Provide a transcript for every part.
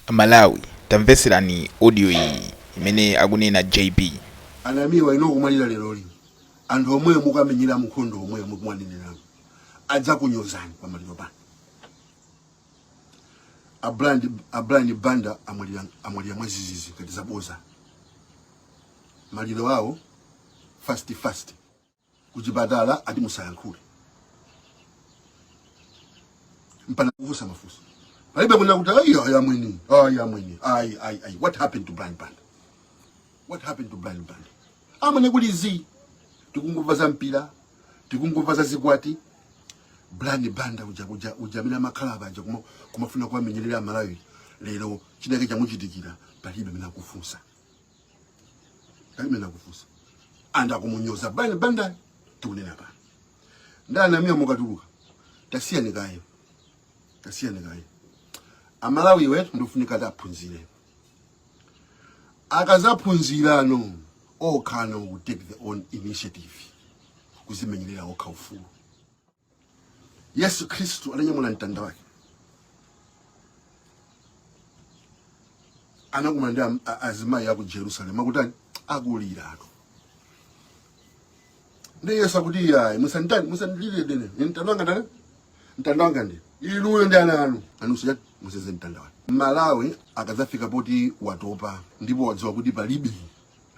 A Malawi tamvetserani audio iyi imene akunena JB. A Namiwa inu mukamwalira leroli anthu omwe mukuwamenyera nkhondo omwe mukuwanenerawo adzakunyozani pamaliro panu. A Brian, a Brian Banda amwalira, amwalira mwazizizi ngati zaboza maliro awo fast fast. kuchipatala ati musayankhule mpana kufunsa mafunso palibe kuna kuti ayi ayi amwini ayi amwini ayi ayi ayi what happened to Brian Banda what happened to Brian Banda amene kuli zi tikungumva za mpira tikungumva za zikwati Brian Banda uja uja uja amene amakhala panja kuma kumafuna kuwamenyerera amalawi lero chinake chamuchitikira palibe amene akufunsa amene akufunsa and akumunyoza Brian Banda tikunena pano nda a Namiwa mukatuluka tasiyani kaye tasiyani kaye amalawi wetu ndikufunika ataphunzira akazaphunzirano okhano ku take their own initiative kuzimenyerera okha ufulu Yesu Kristu ananyamula mtanda wake, anakumana ndi am- a- azimayi aku Jerusalem akutani, akulira ako ndi Yesu akuti iyayi, musanditani, musandilire ndine, Ine mtanda wanga ndani, mtanda wanga ndi inuyo ndi ana anu, anunso chati museze mtanda wake. Malawi akadzafika poti watopa ndipo wadziwa kuti palibe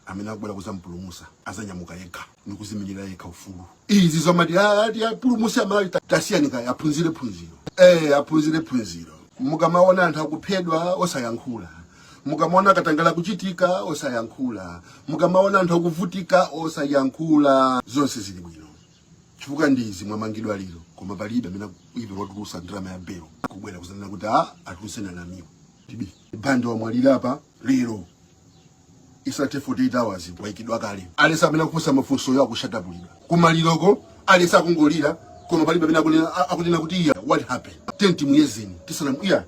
amene akubwera kuzampulumusa azanyamuka yekha ndikuzimenyera yekha ufulu izi zomati ati apulumusi amalawi ta- tasiyani kaye aphunzire phunziro eh aphunzire phunziro mukamaona anthu akuphedwa osayankhula mukamaona katangale akuchitika osayankhula mukamaona anthu akuvutika osayankhula zonse zili bwino chifukwa ndizi mwamangidwa lero koma palibe amene even watulusa ndalama ya belo kubwera kuzanena kuti a atuluseni a Namiwa ti B Banda wamwalira apa lero isanathe 48 hours waikidwa kale at least amene akufunsa mafunsoyo akushatapulidwa kumaliroko at least akungolira koma palibe amene akunena- a- akunena kuti iya what happened then timuyezeni tisana iya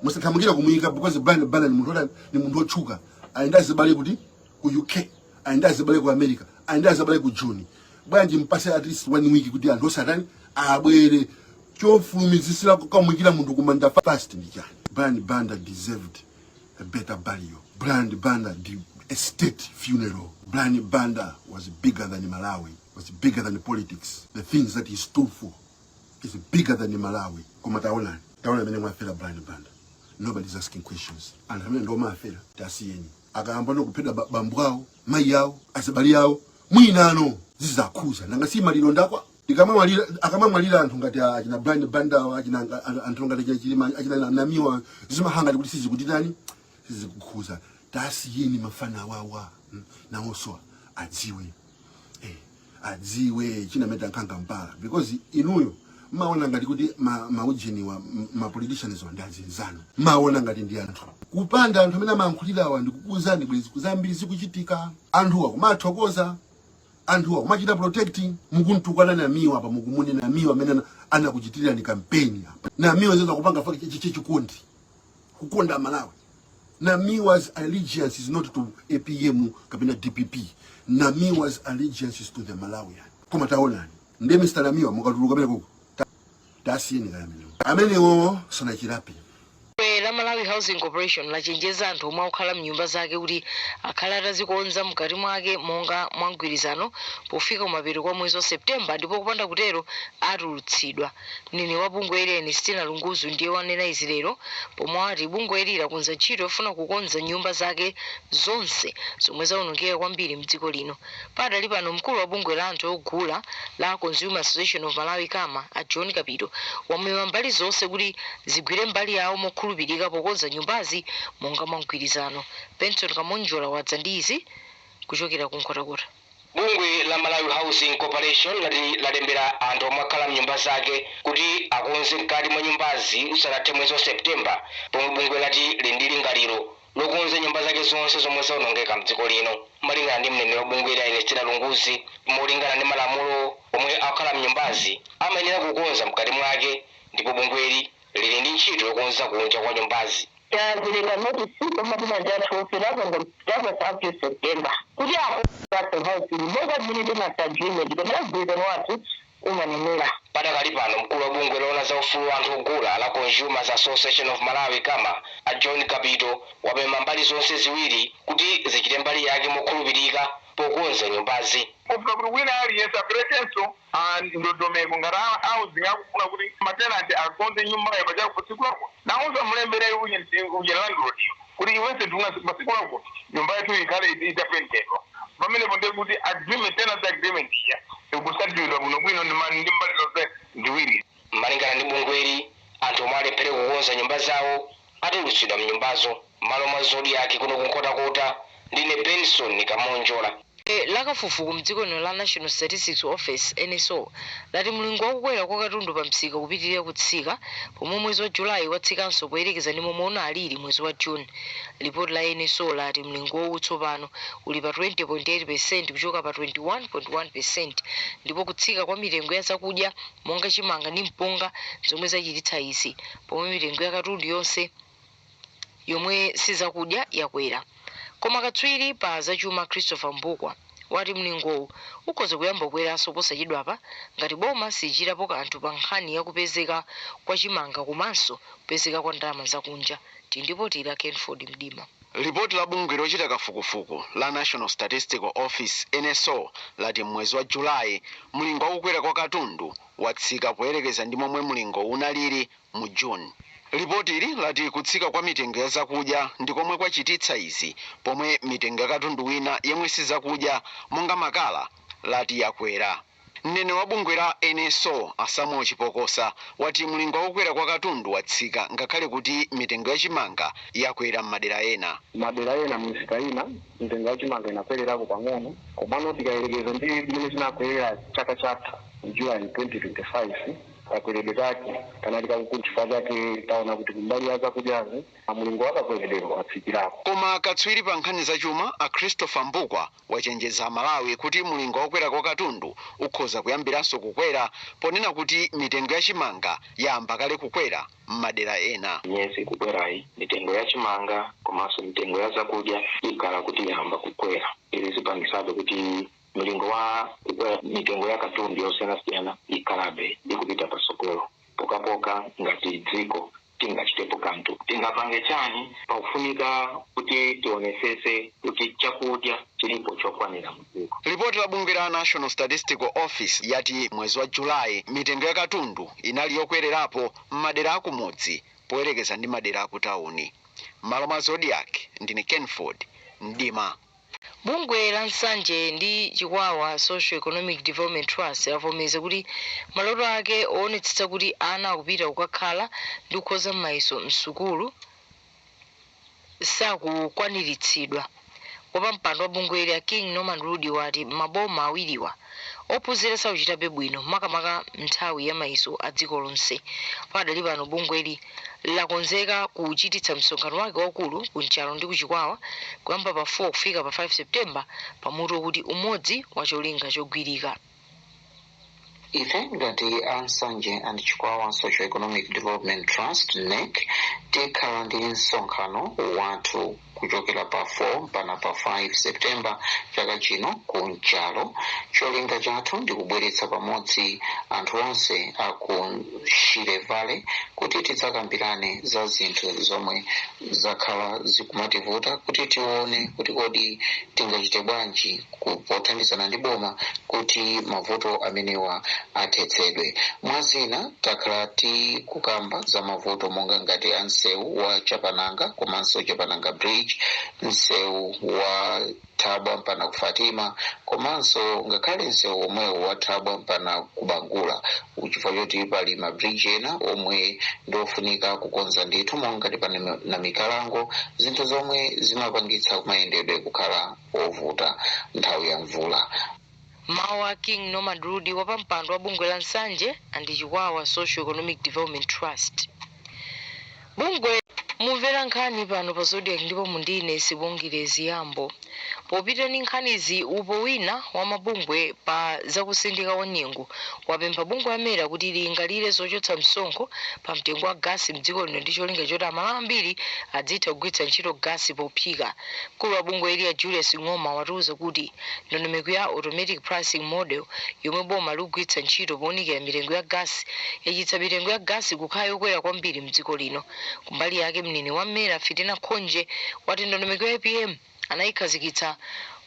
musathamangire kumuyika because brian banda ni munthu wotani ni munthu wotchuka ali nda azibale kuti ku uk ali nda azibale ku america ali nda azibale ku joni bwanji mpase at least one week kuti anthu azatani abwere chofulumizisira kukamuyikira munthu kumanda fast ndi chani brian banda deserved a better burial. Brian Banda did a state funeral. Brian Banda was bigger than Malawi, was bigger than politics. The things that he stood for is bigger than Malawi. Koma taona, taona mene mwafera Brian Banda. Nobody's asking questions. And hamene ndo mafera, tasiyeni. Akayamba no kupeda ba- bambu awo, mayi awo, asabali awo, mwinano zizakhuza. Nanga si maliro ndakwa, tikamamwalira akamamwalira anthu ngati a- achina brian bandawa achina anga- a- anthu ngati achina chilima achina na- namiwa zimakhala kuti sizikutitani sizikukhuza tasiyeni mafana wawa mm, nawonso adziwe eh, adziwe chinameta nkhanga mpala because inuyo maona ngati kuti ma- maujeniwa m- ma politicians wa ndi azinzanu maona ngati ndi anthu kupanda anthu amene amayankhulirawa ndikukuuzani bwezi zambiri zikuchitika anthuwa kumathokoza anthuwa kumachita protect mukuntukwana namiwa apa mukumunena namiwa amene anakuchitirira ni kampeni apa namiwa zeza kupanga fake chi chikondi kukonda malawi namiwa's allegiance is not to apm kapena dpp namiwa's allegiance is to the malawian koma taonani nde mr namiwa mukatuluka penakenso tasiyeni kaya amenewo amenewo sanachirape Bungwe la Malawi Housing Corporation lachenjeza anthu omwe akukhala mnyumba zake kuti akhale atazikonza mkati mwake monga mwa mgwirizano pofika kumapeto kwa mwezi wa Septemba ndipo kupanda kutero atulutsidwa. Mneneri wa bungweli Ernestina Lunguzu ndiye wanena izi lero pomwe wati bungweli lakonza ntchito yofuna kukonza nyumba zake zonse zomwe zawonongeka kwambiri mdziko lino. Padakali pano mkulu wa bungwe la anthu ogula la Consumer Association of Malawi, Cama, a John Kapito wamema mbali zonse kuti zigwire mbali yawo mokhulupirika pokonza nyumbazi monga mwa mgwirizano. Benson Kamonjola wadza ndi izi kuchokera ku Nkhotakota. Bungwe la Malawi Housing Corporation lati lalembera anthu omwe akhala mnyumba zake kuti akonze mkati mwa nyumbazi usanathe mwezi wa September pomwe bungwe lati lili ndi lingaliro lokonza nyumba zake zonse zomwe zaonongeka mdziko lino. Malingana ndi mneneri wa bungweli a Ernestina Lunguzu, molingana ndi malamulo, omwe akukhala mnyumbazi amayenera kukonza mkati mwake ndipo bungweli lili ndi ntchito yokonza kunja kwa nyumbazi. Tapereka notisi kwa matenanti athu onse up to September kuti akonze athu house monga mmene tenancy agreement kapena mgwirizano wathu umanenera. Padakali pano, mkulu wa bungwe loona za ufulu wa anthu ogula la Consumers Association of Malawi, Cama, a John Kapito wapempha mbali zonse ziwiri kuti zichite mbali yake mokhulupirika pokonza nyumbazi. Pofuna kuti wina aliyense aperekenso ndondomeko ngati a housing akufuna kuti matenanti akonze nyumbayo pa masiku akuti, nawonso amulembere uje uje landlord-yo. kuti iwense ndi masiku ako nyumba yathu ikhale itapentedwa pamenepo ndiye kuti agreement tenancy agreement ija ikutsatidwa bwinobwino ndi ma- ndi mbali zonse ziwiri malingana ndi bungweli anthu omwe alephere kukonza nyumba zawo atulutsidwa mnyumbazo m'malo mwa zodiak kuno kunkhotakota ndine benson kamonjola Bungwe la kafufuku mdziko lino la National Statistics Office, nso, lati mlingo wa kukwera kwa katundu pa msika ukupitilira kutsika pomwe mwezi wa July watsikanso poyerekeza ndi momwe unaliri mwezi wa June. Ripoti la nso lati mlingowu tsopano uli pa 20.8 percent kuchoka pa 21.1 percent ndipo kutsika kwa mitengo ya zakudya monga chimanga ndi mpunga nzomwe zachititsa izi pomwe mitengo ya katundu yonse yomwe si zakudya yakwera. Koma katswiri pa zachuma Christopher Mbukwa wati mlingowu ukhoza kuyamba kukweranso posachedwapa ngati boma silichitapo kanthu pa nkhani ya kupezeka kwa chimanga komanso kupezeka kwa ndalama zakunja. Tili ndi lipoti la Kenford Mdima. Lipoti la bungwe lochita kafukufuku la National Statistical Office, NSO, lati m'mwezi wa July, mlingo wa kukwera kwa katundu watsika poyerekeza ndi momwe mlingowu unalili mu June. Lipotili lati kutsika kwa mitengo ya zakudya ndi komwe kwachititsa izi pomwe mitengo ya katundu wina yemwe si zakudya monga makala lati yakwera. Mneneri wa bungwe la NSO a Samuel Chipokosa wati mlingo wa kukwera kwa katundu watsika ngakhale kuti mitengo ya chimanga yakwera m'madera ena. M'madera ena m'misika ina mitengo ya chimanga inakwererako pang'ono komano tikayerekeza ndi mmene chinakwerera chaka chatha mu July 2025, Kakweredwe kake kanali kakukulu chifukwa chake taona kuti kumbali ya zakudyazi mulingo wa kakweredweko watsikirako. Koma katswiri pa nkhani za chuma a Christopher Mbukwa wachenjeza aMalawi kuti mulingo wa kukwera kwa katundu ukhoza kuyambiranso kukwera ponena kuti mitengo ya chimanga yayamba kale kukwera m'madera ena. Miyezi ikukwerayi mitengo ya chimanga komanso mitengo ya zakudya ikhala kuti yayamba kukwera. Izi zipangisabe kuti mlingo wa mitengo ya katundu yosiyanasiyana ikhalabe ikupita patsogolo pokhapokha ngati dziko tingachitepo kanthu tingapange chani pakufunika kuti tionesese kuti chakudya chilipo chokwanira mdziko Lipoti la bungwe la National Statistical Office yati mwezi wa July mitengo ya katundu inali yokwererapo m'madera akumudzi poyerekeza ndi madera akutawuni. M'malo mwa Zodiak, ndine Kenford Mdima. Bungwe la Nsanje ndi Chikwawa Socio-Economic Development Trust lavomereza kuti maloto ake owonetsetsa kuti ana akupita kukakhala ndi kukhoza mayeso m'sukulu sakukwaniritsidwa. Wapampando wa bungweli a King Norman Rudi wati m'maboma awiriwa, ophunzira sakuchitabe bwino makamaka m'nthawi ya mayeso a dziko lonse. Pakadali pano bungweli lakonzeka kuchititsa msonkhano wake waukulu ku Nchalo ndi ku Chikwawa kuyamba pa 4 kufika pa 5 September pa mutu wakuti Umodzi wa Cholinga Chogwirika. Ife ngati a Nsanje and Chikwawa Socio-Economic Development Trust, NEC, tikhala ndi msonkhano wathu kuchokera pa 4 mpaka pa 5 September chaka chino ku Nchalo cholinga chathu ndi kubweretsa pamodzi anthu onse a ku Shire Valley kuti tidzakambirane za zinthu zomwe zakhala zikumativuta kuti tione kuti kodi tingachite bwanji ku- pothandizana ndi boma kuti mavuto amenewa athetsedwe mwa zina takhala tikukamba za mavuto monga ngati a msewu wa chapananga komanso chapananga bridge msewu wa thabwa mpana ku fatima komanso ngakhale msewu omwewo wa thabwa mpana ku bangula chifukwa choti pali mabridge ena omwe ndi ofunika kukonza ndithu monga ngati pa Nami- Namikalango zinthu zomwe zimapangitsa kuti mayendedwe akhale wovuta nthawi ya mvula. Mawu a King Norman Rudi wapampando wa bungwe la Nsanje and Chikwawa Socio Economic Development Trust. Bungwe mumvera nkhani pano pa Zodiak ndipo mundine Sibongile Ziyambo. Popita ndi nkhanizi upo wina wa mabungwe pa za kusintha kwa nyengo wapempha bungwe la Mera kuti lilingalire zochotsa msonkho pa mtengo wa gasi mdziko lino ndi cholinga choti Amalawi ambiri adzitha kugwiritsa ntchito gasi pophika. Mkulu wa bungwe ili a Julius Ng'oma watiuza kuti ndondomeko ya Automatic Pricing Model yomwe boma likugwiritsa ntchito pounikira mitengo ya gasi yachititsa mitengo ya gasi kukhala yokwera kwambiri mdziko lino. Kumbali yake mneneri wa Mera Fitina Khonje wati ndondomeko ya APM anayikhazikitsa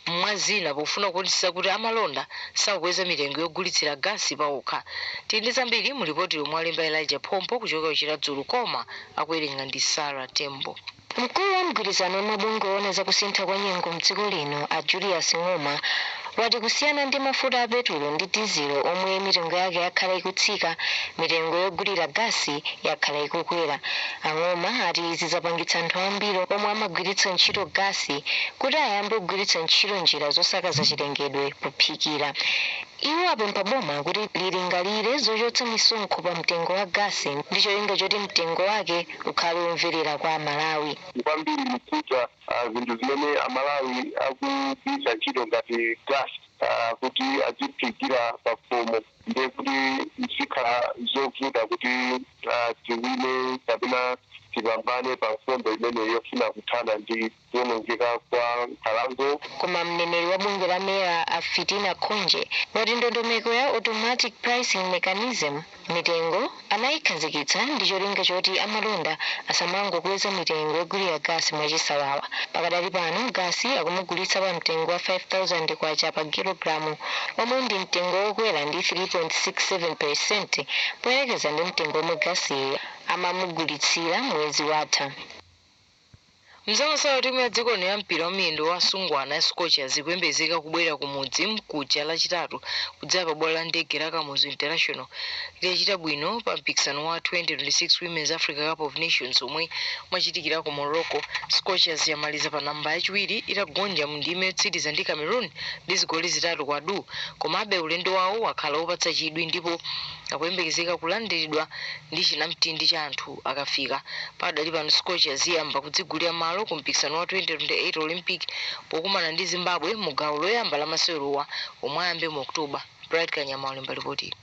mwa zina pofuna kuonetsetsa kuti amalonda sakukweza mitengo yogulitsira gasi paokha. Tili ndi zambiri mu lipoti lomwe walemba Elijah Phompo kuchokera ku Chiradzulu koma akuwerenga ndi Sarah Tembo. Mkulu wa mgwirizano wa mabungwe oona za kusintha kwa nyengo m'dziko lino a Julius Ng'oma wati kusiyana ndi mafuta a petulo ndi dizilo omwe mitengo yake yakhala ikutsika, mitengo yogulira gasi yakhala ikukwera. A Ng'oma ati izi zapangitsa anthu ambiri omwe amagwiritsa ntchito gasi kuti ayambe kugwiritsa ntchito njira zosakaza chilengedwe pophikira. Iwo apempha boma kuti lilingalire zochotsa misonkho pa mtengo wa gasi ndi cholinga choti mtengo wake ukhale womverera kwa aMalawi. Kwambiri kukhudza zinthu zimene aMalawi akugwiritsa ntchito ngati gasi kuti adziphikira pakhomo ndiye kuti zikhala zovuta kuti tiwine kapena tipambane pa nkhondo imeneyi yofuna kuthana ndi. kuwonongeka kwa nkhalango. Koma mneneri wa bungwe la mera a Fitina Khonje wati ndondomeko ya automatic pricing mechanism mitengo anayikhazikitsa ndi cholinga choti amalonda asamangokweza mitengo yogulira gasi mwachisawawa. Pakadali pano gasi akumugulitsa pa mtengo wa K5000 pa kilogalamu omwe ndi mtengo wokwera ndi 3.67 percent poyerekeza ndi mtengo omwe gasiyu amamugulitsira mwezi watha. Mnzao sawa timu ya dziko lino ya mpira wa miyendo wa asungwana ya Scorchers ikuyembezeka kubwerera ku mudzi mkuja lachitatu kudzera pa bwalo la ndege la Kamuzu International itachita bwino pa mpikisano wa 2026 Women's Africa Cup of Nations omwe umachitikira ku Morocco. Scorchers yamaliza pa namba yachiwiri itagonja mu ndime yotsiriza ndi Cameroon ndi zigoli zitatu kwa du. Komabe ulendo wawo wakhala wopatsa chidwi ndipo akuyembekezeka kulandiridwa ndi chinamtindi cha anthu. akafika. Pakadali pano Scorchers iyamba kudzigulira malo ku mpikisano wa 2028 Olympic pokumana ndi Zimbabwe mu gawo loyamba la masewerowa omwe ayambe mu October. Bright Kanyama walemba lipotili.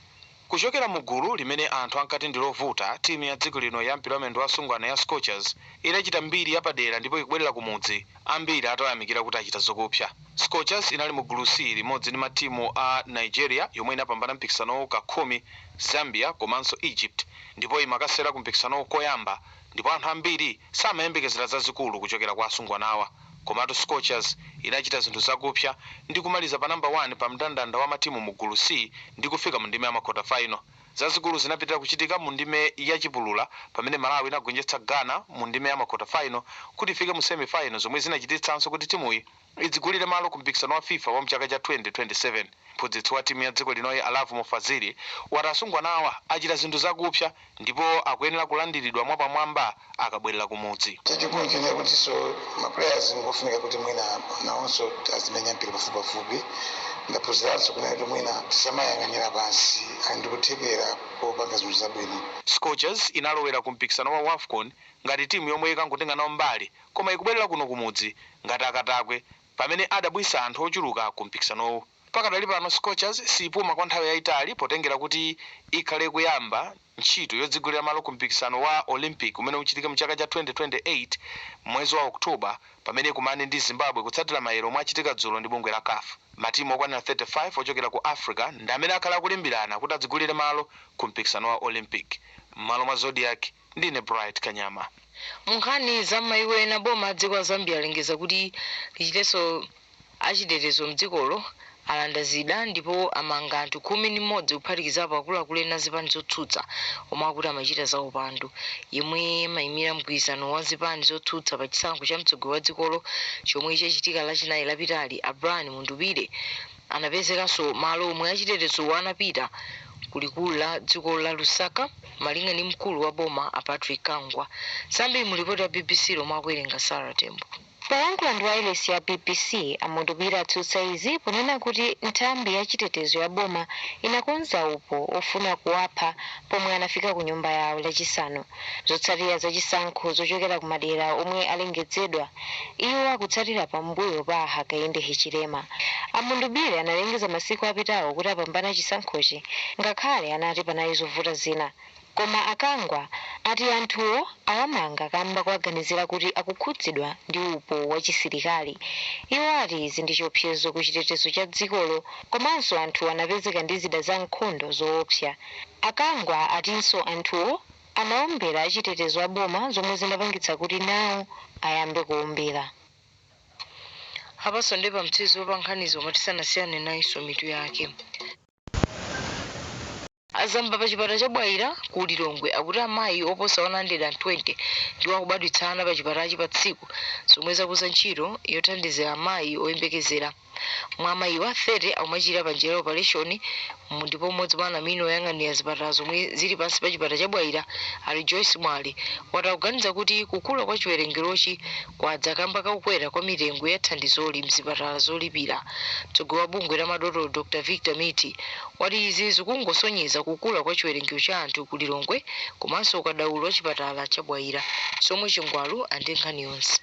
Kuchokera mu gulu limene anthu ankati ndi lovuta, timu ya dziko lino ya mpira wa miyendo wa asungwana ya Scorchers idachita mbiri yapadera ndipo ikubwerera kumudzi. ambiri atayamikira kuti achita zokupsa. Scorchers inali mu gulu C limodzi ndi matimu a Nigeria yomwe inapambana mpikisanowu ka khumi, Zambia komanso Egypt ndipo imakasewera ku mpikisanowu koyamba ndipo anthu ambiri samayembekezera zazikulu kuchokera kwa asungwanawa komatu Scorchers inachita zinthu zakupsa ndi kumaliza pa number 1 pa mndandanda wa matimu mu gulu C ndi kufika mu ndime ya makota final. Zazikulu zinapitilira kuchitika mu ndime ya chipulula pamene Malawi inagonjetsa Ghana mu ndime ya makota final kuti ifike mu semi final zomwe zinachititsanso kuti timuyi idzigulire malo ku mpikisano wa fifa wa mchaka cha 2027. Mphunzitsi wa timu ya dziko linoyi a Lovemore Fazili wati asungwanawa achita zinthu zakupsa ndipo akuyenera kulandilidwa mwapamwamba. akabwerera kumudzi. Chachikulu nchonena kutinso ma players ngofunika kuti mwina nawonso azimenya mpira pafupipafupi. Ndaphunziranso kunena kuti mwina tisamawayang'anira pansi ali ndi kuthekera popanga zinthu zabwino. Scorchers inalowera ku mpikisano wa Wafcon ngati timu yomwe ikangotenga nawo mbali koma ikubwerera kuno kumudzi ngati akatakwe pamene adabwisa anthu ochuluka ku mpikisanowu. Pakadali pano Scorchers siipuma kwa nthawi yaitali potengera kuti ikhale kuyamba ntchito yodzigulira malo ku mpikisano wa Olympic umene uchitike mchaka cha 2028 m'mwezi wa October pamene ikumane ndi Zimbabwe kutsatira mayere omwe achitika dzulo ndi bungwe la caf. Matimu okwanira 35 ochokera ku Africa ndi amene akhale akulimbirana kuti adzigulire malo ku mpikisano wa Olympic m'malo mwa Zodiak, Ndine Bright Kanyama. Munkhani za m'mayiko ena, boma la dziko la Zambia lalengeza kuti lichitetso achitetezo mdzikolo alanda zida ndipo amanga anthu khumi ndi mmodzi kuphatikizapo akuluakulu ena azipani zotsutsa omwe akuti amachita za upandu. Yemwe amaimira mgwirizano wa zipani zotsutsa pa chisankho cha mtsogoleri wa dzikolo chomwe chachitika lachinayi lapitali a Brian Mundubile anapezekanso malo omwe achitetezowo anapita ku likulu la dzikolo la Lusaka. Malinga ndi mkulu wa boma a Patrick Kangwa, zambiri mu lipoti la bbc lomwe akuwerenga Sara Tembo. Polankhula ndi wailesi ya bbc, a Mundubile atsutsa izi ponena kuti nthambi ya chitetezo ya boma inakonza upo ofuna kuwapha pomwe anafika ku nyumba yawo lachisanu zotsatira za chisankho zochokera ku madera omwe alengedzedwa. Iwo akutsatira pa mbuyo pa a Hakainde Hichilema. A Mundubile analengeza masiku apitawo kuti apambana chisankhochi ngakhale anati panali zovuta zina. Koma a Kangwa ati anthuwo awamanga kamba kowaganizira kuti akukhudzidwa ndi upo wa chisilikali. Iwo ati izi ndi chiopsezo ku chitetezo cha dzikolo komanso anthuwo anapezeka ndi zida za nkhondo zoopsa. A Kangwa atinso anthuwo anaombera achitetezo a boma zomwe zinapangitsa kuti nawo ayambe kuombera. Apatu ndi pamathero pa nkhanizo koma tisanasiyane nayinso mitu yake. Azamba pa chipatala cha Bwaila ku Lilongwe akuti amayi oposa 120 ndiwo akubadwitsa ana pa chipatalachi pa tsiku zomwe zakuza ntchito yothandizira amayi oyembekezera. Mwa amayiwa, 30 akumachilira pa njira ya opaleshoni ndipo mmodzi mwa anamwino oyang'anira zipatala zomwe zili pansi pa chipatala cha Bwaila, a Rejoice Mwale, wati akuganiza kuti kukula kwa chiwerengerochi kwadza kamba ka kukwera kwa mitengo ya thandizoli m'zipatala zolipira. Mtsogoleri wa bungwe la madotolo, Dr Victor Mithi, wati izi zikungosonyeza kukula kwa chiwerengero cha anthu ku Lilongwe komanso ukadaulo wa chipatala cha Bwaila. Somwe Chingwalu ali ndi nkhani yonse.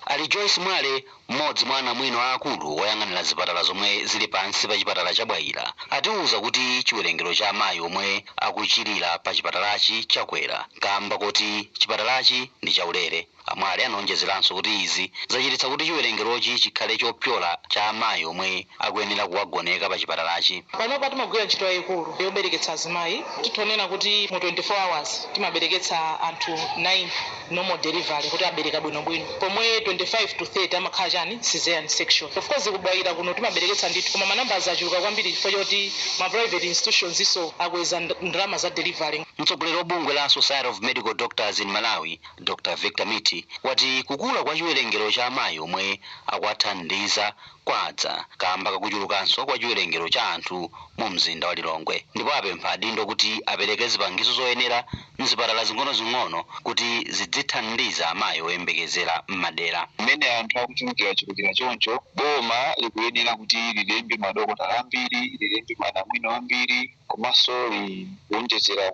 A Rejoice Mwale M'modzi mwa anamwino aakulu oyang'anira zipatala zomwe zili pansi pa chipatala cha Bwaila atiuza kuti chiwerengero cha amayi omwe akuchilira pa chipatalachi chakwera kaamba koti chipatalachi ndi chaulere. A Mwale anaonjezeranso kuti izi zachititsa kuti chiwerengerochi chikhale chopyola cha amayi omwe akuyenera kuwagoneka pa chipatalachi. Panopa timagwira ntchito yayikulu yobereketsa azimayi. Titha kunena kuti mu 24 hours timabereketsa anthu 90. normal delivery kuti abereka bwinobwino pomwe 25 to 30 amakhala chani caesarean section of course ku Bwaila kuno timabereketsa ndithu koma ma numbers achuluka kwambiri chifukwa choti ma private institutions so akweza nd- ndalama za delivery Mtsogoleri wa bungwe la Society of Medical Doctors in Malawi, Dr Victor Mithi, wati kukula kwa chiwerengero cha amayi omwe akuwathandiza kwadza kaamba kakuchulukanso kwa chiwerengero cha anthu mu mzinda wa Lilongwe ndipo apempha adindo kuti apereke zipangizo zoyenera mzipatala zing'onozing'ono kuti zidzithandiza amayi oyembekezera mmadera. Mmene anthu akuchulukirachulukira choncho, boma likuyenera kuti lilembe madokotala ambiri, lilembe manamwino ambiri, komanso likuwonjezera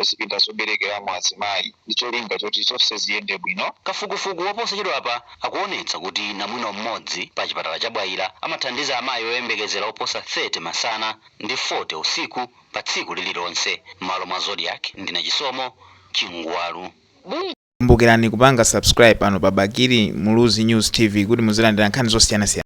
zipinda zoberekeramo azimayi ndi cholinga choti zonse ziyende bwino. Kafukufuku waposachedwapa akuwonetsa kuti namwino m'modzi pa chipatala cha Bwaila amathandiza amayi oyembekezera oposa 30 masana ndi 40 usiku pa tsiku lililonse, m'malo mwa Zodiak ndine Chisomo Chingwalu. Kumbukirani kupanga subscribe pano pa Bakili Muluzi News TV kuti muzilandira nkhani zosiyanasiyana.